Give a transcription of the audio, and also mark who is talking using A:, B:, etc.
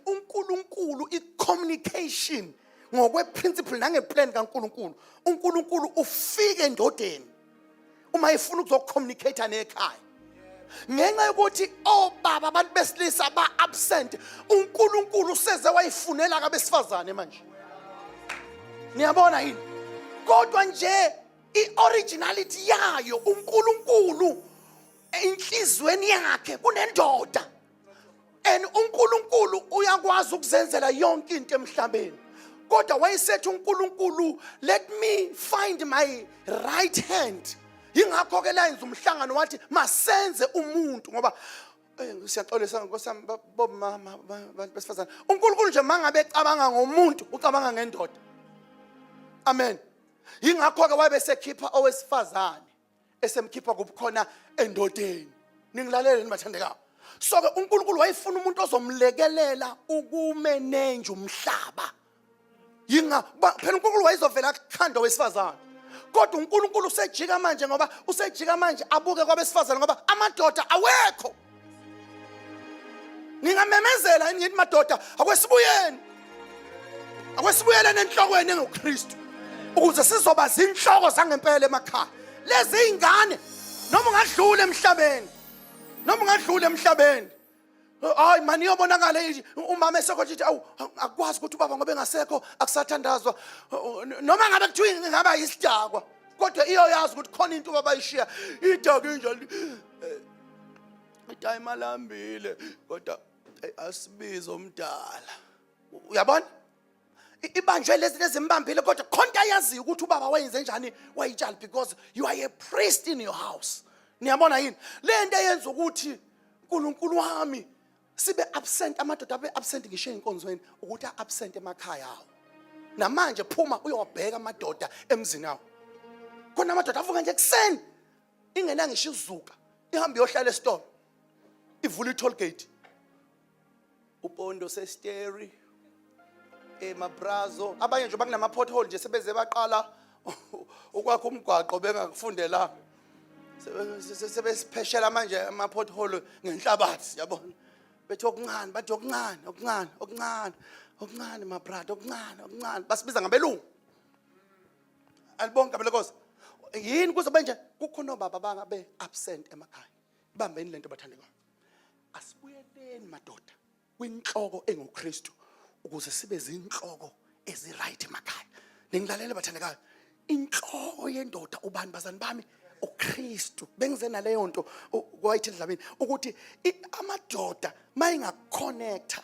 A: uNkulunkulu i-communication ngokweprinciple nangeplan kaNkulunkulu uNkulunkulu ufike endodeni uma efuna ukuzocommunicate nekhaya ngenxa yokuthi obaba abantu besilisa ba-absent unkulunkulu useze wayifunela kabesifazane manje niyabona yini kodwa nje i-originality yayo unkulunkulu enhliziyweni yakhe kunendoda and uNkulunkulu uyakwazi ukuzenzela yonke into emhlabeni kodwa wayesethi uNkulunkulu let me find my right hand yingakho ke layenza umhlangano wathi masenze umuntu ngoba eh, siyaxolisa nkosi yami bomama abantu besifazane uNkulunkulu nje mangabe ecabanga ngomuntu ucabanga ngendoda amen yingakho ke wayebesekhipha owesifazane esemkhipha kubukhona endodeni ningilaleleni bathandekayo so-ke unkulunkulu wayefuna umuntu ozomlekelela ukumenenja umhlaba yinga phela unkulunkulu wayezovela akhanda wesifazane kodwa unkulunkulu usejika manje ngoba usejika manje abuke kwabesifazane ngoba amadoda awekho ningamemezela yini ngithi madoda akwesibuyeni akwesibuyeleni enhlokweni engokristu ukuze sizoba zinhloko zangempela emakhaya lezi ingane noma ungadlula emhlabeni noma ungadlula emhlabeni hayi mani iyobonakala umama esekhothi ithi awu akwazi ukuthi ubaba ngoba engasekho akusathandazwa noma ngabe kuthiwa ingaba yisidakwa kodwa iyoyazi ukuthi khona into ubaba ayishiya idaka injalo itime alambile kodwa asibize omdala uyabona ibanjwe lezi lezimbambile kodwa khonta yaziyo ukuthi ubaba wayenze njani wayitshali because you are a priest in your house niyabona yini le nto eyenza ukuthi unkulunkulu wami sibe absent amadoda abe absent ngisho ey'nkonzweni ukuthi a-absent emakhaya awo namanje phuma uyowabheka amadoda emzini awo khona amadoda avuka nje ekuseni ingena ngisho izuka ihambe yohlala esitolo ivula i-toll gate upondo sesteri emabrazo eh, abanye nje bakunama-pothole nje sebeze baqala ukwakha umgwaqo bengakufundelanga sebesipheshela manje ama-pothole ngenhlabathi yabona bethi okuncane bathi okuncane okuncane okuncane okuncane mabrada okuncane okuncane basibiza ngabelungu alibonke abelekosi yini kuzobe nje kukhona obaba bangabe absent emakhaya ibambeni lento bathandekayo asibuyeleni madoda kwinhloko enguKristu ukuze sibe zinhloko eziright emakhaya ningilalele bathandekayo inhloko yendoda ubani bazani bami uKristu bengize naleyo nto kwayithi endlabeni ukuthi amadoda mayingaconnecta